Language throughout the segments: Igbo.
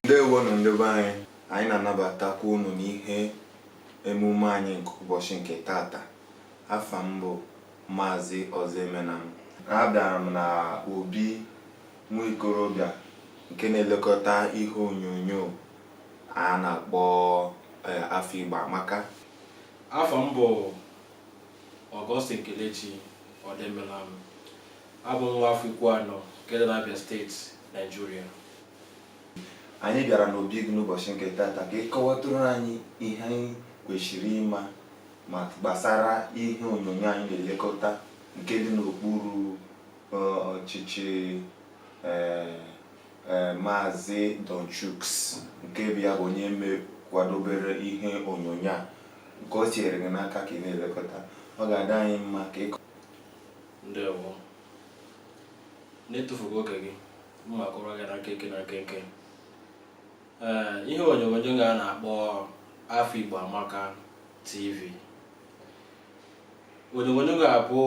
ndewonụ ndị be anyị anyị na-anabatakwa unu n'ihe emume anyị nke ụbọchị nke tata afa m bụ maazị ọzọemenam abịara m na obi nwa ikorobịa nke na-elekọta ihe onyonyo a na-akpọ eh, afọ Igbo amaka afa m bụ Augustine Kelechi Odoemelam abụ m nwa afọ Ikwuanọ nke dị n'Abia steeti Naijiria anyị bịara n'obi gị n'ụbọchị nke tata ka ị kọwatụrụ anyị ihe anyị kwesịrị ịma ma gbasara ihe onyonyo anyị na-elekọta nke dị n'okpuru eh, ọchịchị eh, Eh, Maazị Don Chuks nke bụ ya bụ onye mekwadobere ihe onyonyo a nke o tinyere gị n'aka ka ị na-elekọta ọ ga-adị anyị mma ka ị kọọ ndewo n'etufughị oge gị m ma-akọrọ gị na nkenke na nkenke ee eh, ihe onyonyo ga na-akpọ afọ igbo amaka tv onyonyo ga-abụ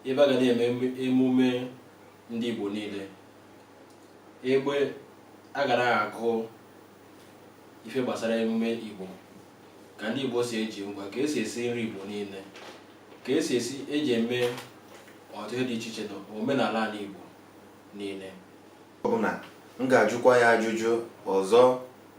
ebe a ga na-eme emume ndị Igbo niile egbe a ga na-agụ ife gbasara emume Igbo ka ndị Igbo si eji ngwa ka e si esi nri Igbo niile ka e si esi eji eme ọtụtụ ihe dị iche iche na omenala ala Igbo niile ọbụna m ga-ajụkwa ya ajụjụ ọzọ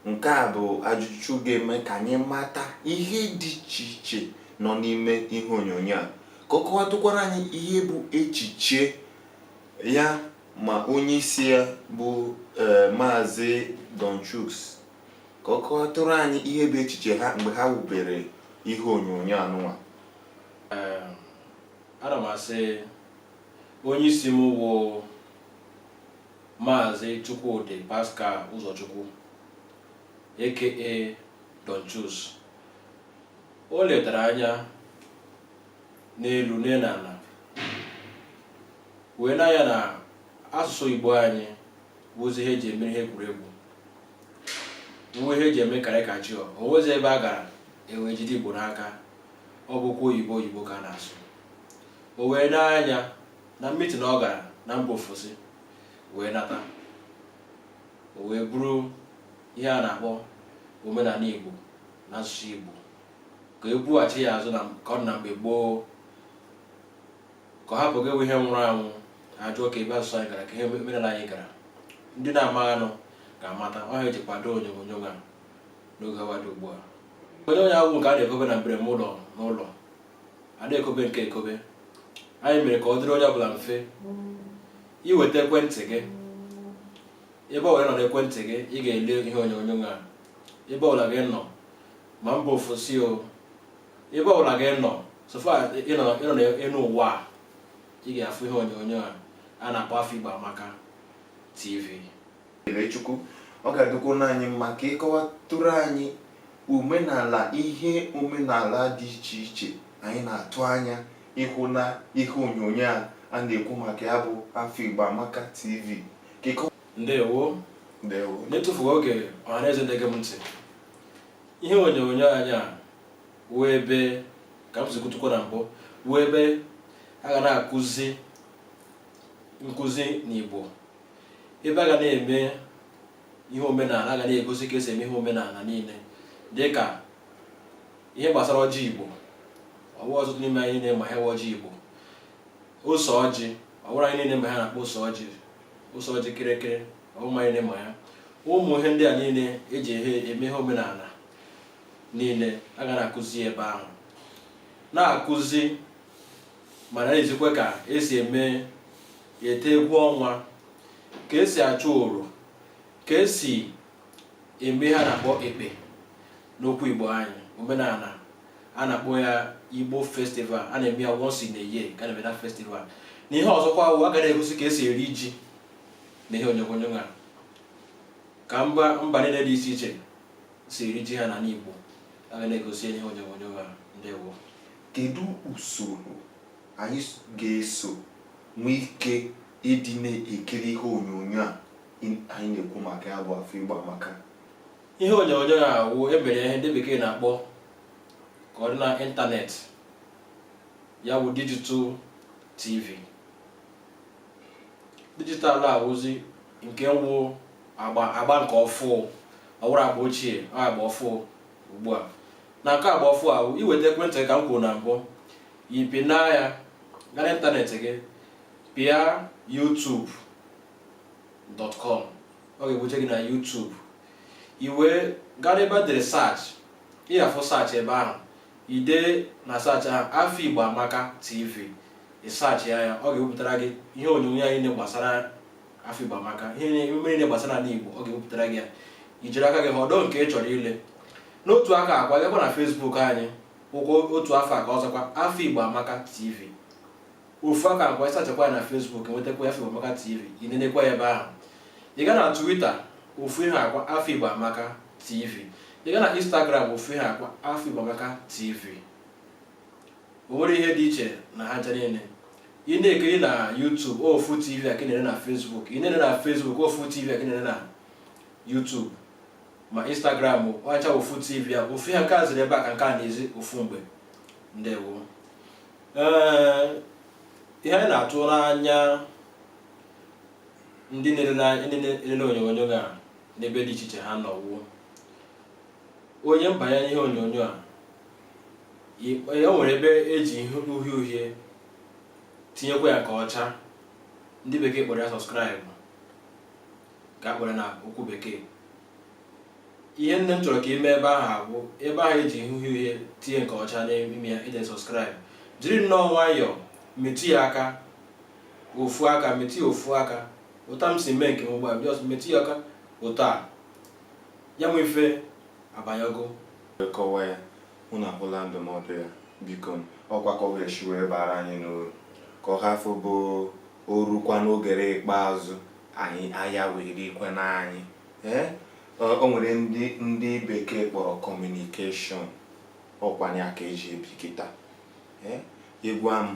nke a bụ ajụjụ ga-eme ka anyị mata ihe dị iche iche nọ n'ime ihe onyonyo a ka ọ kọwatụkwara anyị ihe bụ echiche ya ma onye isi ya bụ eh, maazị Don Chuks ka ọ kọwatụrụ anyị ihe bụ echiche ha mgbe ha wubere ihe onyonyo anụnwa ana m asị onye isi m wụ maazị Chukwudi Pascal Ụzọchukwu aka Don Chuks o letara anya n'elu lee n'ala wee na ya na asụsụ igbo anyị wụzi ihe eji eme ihe egwuregwu wụ ihe eji eme caricature o nwezi ebe a gara e wee jide igbo n'aka ọ bụkwa oyibo oyibo ka a na-asụ o wee n'anya na mitin ọ gara na mba ofesi wee nata o wee buru ihe a na-akpọ omenala igbo na asụsụ igbo ka e bughachi ya azụ ka ọ dị na mgbe gboo ka ọ hapụ gị bụ ihe nwụrụ anwụ a jụọ kee ebe asụsụ anyị gara kee ihe omenala anyị gara ndị na-amaghanụ ga-amata ọ ya eji kwado onyonyo a n'oge awa dị ugbu a onyonyo awụ nke a na-ekobe na mbereme ụlọ n'ụlọ a na-ekobe nke ekobe anyị mere ka ọ dịrị onye ọbụla mfe i weta ekwentị gị ebe ọ were nọ n'ekwentị gị ị ga-ele ihe onyonyo a ebe ọbụla gị nọ ma mba ofesi o ebe ọbụla gị nọ so far ị nọ ị nọ n'elu ụwa a ị ga-afụ ihe onyonyo a a na-akpọ Afọ Igbo Amaka TV Kelechukwu ọ ga-adịkwa anyị mma ka ị kọwatụrụ anyị omenala ihe omenala dị iche iche anyị na-atụ anya ịhụ na ihe onyonyo a a na-ekwu maka ya bụ Afọ Igbo Amaka TV ka ịkọ- ndewo ndewo n'etufughị oge ọhaneze na-ege m ntị ihe onyonyo anyị a wụ ebe ka m si kwutukwa na mbụ wụ ebe a ga na-akụzi nkụzi n'Igbo ebe a ga na-eme ihe omenala a ga na-egosi ka esi eme ihe omenala niile dịka ihe gbasara ọjị Igbo ọ wụ ọtụtụ n'ime anyị na-ama ihe wụ ọjị Igbo ose ọjị ọ wụrụ anyị niile ma ihe a na-akpọ ose ọjị ose ọjị kịrịkịrị ọ wụrụ anyị ma ya ụmụ ihe ndị a niile eji eme ihe omenala niile a ga na-akụzi ebe ahụ na-akụzi ma na-ezikwa ka esi eme ete egwu ọnwa ka esi achụ oro ka esi eme ihe a na-akpọ ekpe n'okwu Igbo anyị omenala a na-akpọ ya Igbo festival a na-eme ya once in a year ka a na-eme na festival na ihe ọzọkwa wụ a ga na-egosi ka esi eri ji na ihe onyonyo a ka mba mba niile dị iche iche si eri ji ha n'ala Igbo a ga na-egosi ihe onyonyo a ndewo kedu usoro anyị ga-eso nwee ike ịdị na-ekiri ihe onyonyo a anyị na-ekwu maka ya bụ Afọ Igbo Amaka ihe onyonyo a wụ e mere ihe ndị bekee na-akpọ ka ọ dị na internet ya bụ digital TV digital wụzi nke wụ agba agba nke ọfụụ ọ wụrụ agba ochie agba ọfụụ ugbu a na nke agba ọfụụ ahụ i weta ekwentị ka m kwuru na mbụ ị pịna ya gaa n'internet gị pịa YouTube youtube.com ọ ga-ebuje gị na YouTube i wee gaa n'ebe a dere search ị ga-afụ search ebe ahụ i dee na search ahụ Afa Igbo Amaka TV ị search ya ya ọ ga-ewepụtara gị ihe onyonyo anyị gbasara Afa Igbo Amaka ihe emume niile gbasara ala Igbo ọ ga-ewepụtara gị ya i jiri aka gị họrọ nke ị chọrọ ile n'otu aka ahụ kwa gakwa na Facebook anyị ọkwa otu afa ka ọ zakwa Afa Igbo Amaka TV ofu aka ahụ kwa ị searchkwa ya na Facebook nwetakwa ya Afa Igbo Amaka TV i nenekwa ya ebe ahụ ị gaa na Twitter ofu ihe ahụ kwa Afa Igbo Amaka TV ị gaa na Instagram ofu ihe ahụ kwa Afa Igbo Amaka TV o nwerọ ihe dị iche na ha ncha niile ị na-ekiri na YouTube ofu TV a ka ị na-ene na Facebook ị na-ene na Facebook ofu TV a ka ị na-ene na YouTube ma Instagram ọ bụcha ofu TV a ofu ihe nke a ziri ebe a ka nke a na-ezi ofu mgbe ndewo ihe anyị na-atụrụ anya ndị na-elele onyonyo ga n'ebe dị iche iche ha nọ wụ onye banye n'ihe onyonyo a o nwere ebe e ji ihe uhie uhie tinyekwa ya ka ọcha ndị bekee kpọrọ ya subscribe ka a kpọrọ na okwu bekee ihe nnọọ m chọrọ ka i mee ebe ahụ bụ ebe ahụ e ji ihe uhie uhie tinye nke ọcha n'ime ya dee subscribe jiri nnọọ nwayọọ metụ ya aka ofu aka metụ ya ofu aka otu a m si mee nke m ugbu a just metụ ya aka otu a ya bụ ife abanyago kọwa ya unu anụla ndụmọdụ a biko ọkwa ka ọ ga-esi wee baara anyị n'uru ka ọ hafụ ịbụ o rukwa n'oge ikpeazụ anyị ahịa wee dịkwa n'anyị ee o nwere ndị ndị bekee kpọrọ communication ọkwa nya ka e ji ebi kịta ee ị gwa m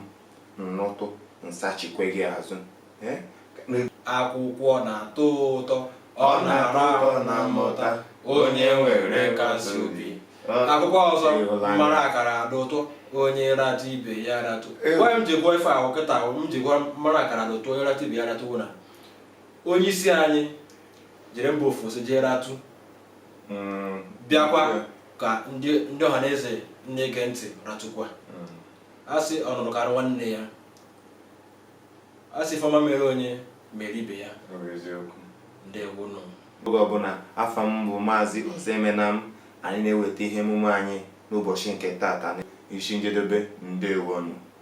m nụtụ m sachikwa gị azụ ee akwụkwọ na-atọ ụtọ ọ na-ara arụ na mmụta onye nwere nkasi obi akwụkwọ ọzọ mara akara dị ụtọ onye ratụ ibe ya ratụ gwa m ji gụọ ife ahụ kịta m ji gụọ mara akara dị ụtọ onye ratụ ibe ya ratụ wụ na onye isi anyị jere mba ofesi jee ratụ mm. bịakwa ka ndị ọha na eze na-ege ntị ratụkwa mm. a sị ọ nụrụ kara nwanne ya a sị ife ọma mere onye mere ibe ya ndewo nụ oge ọbụla afa m bụ maazị Ozoemenam anyị na-eweta ihe emume anyị n'ụbọchị nke taata isi njedebe ndewonụ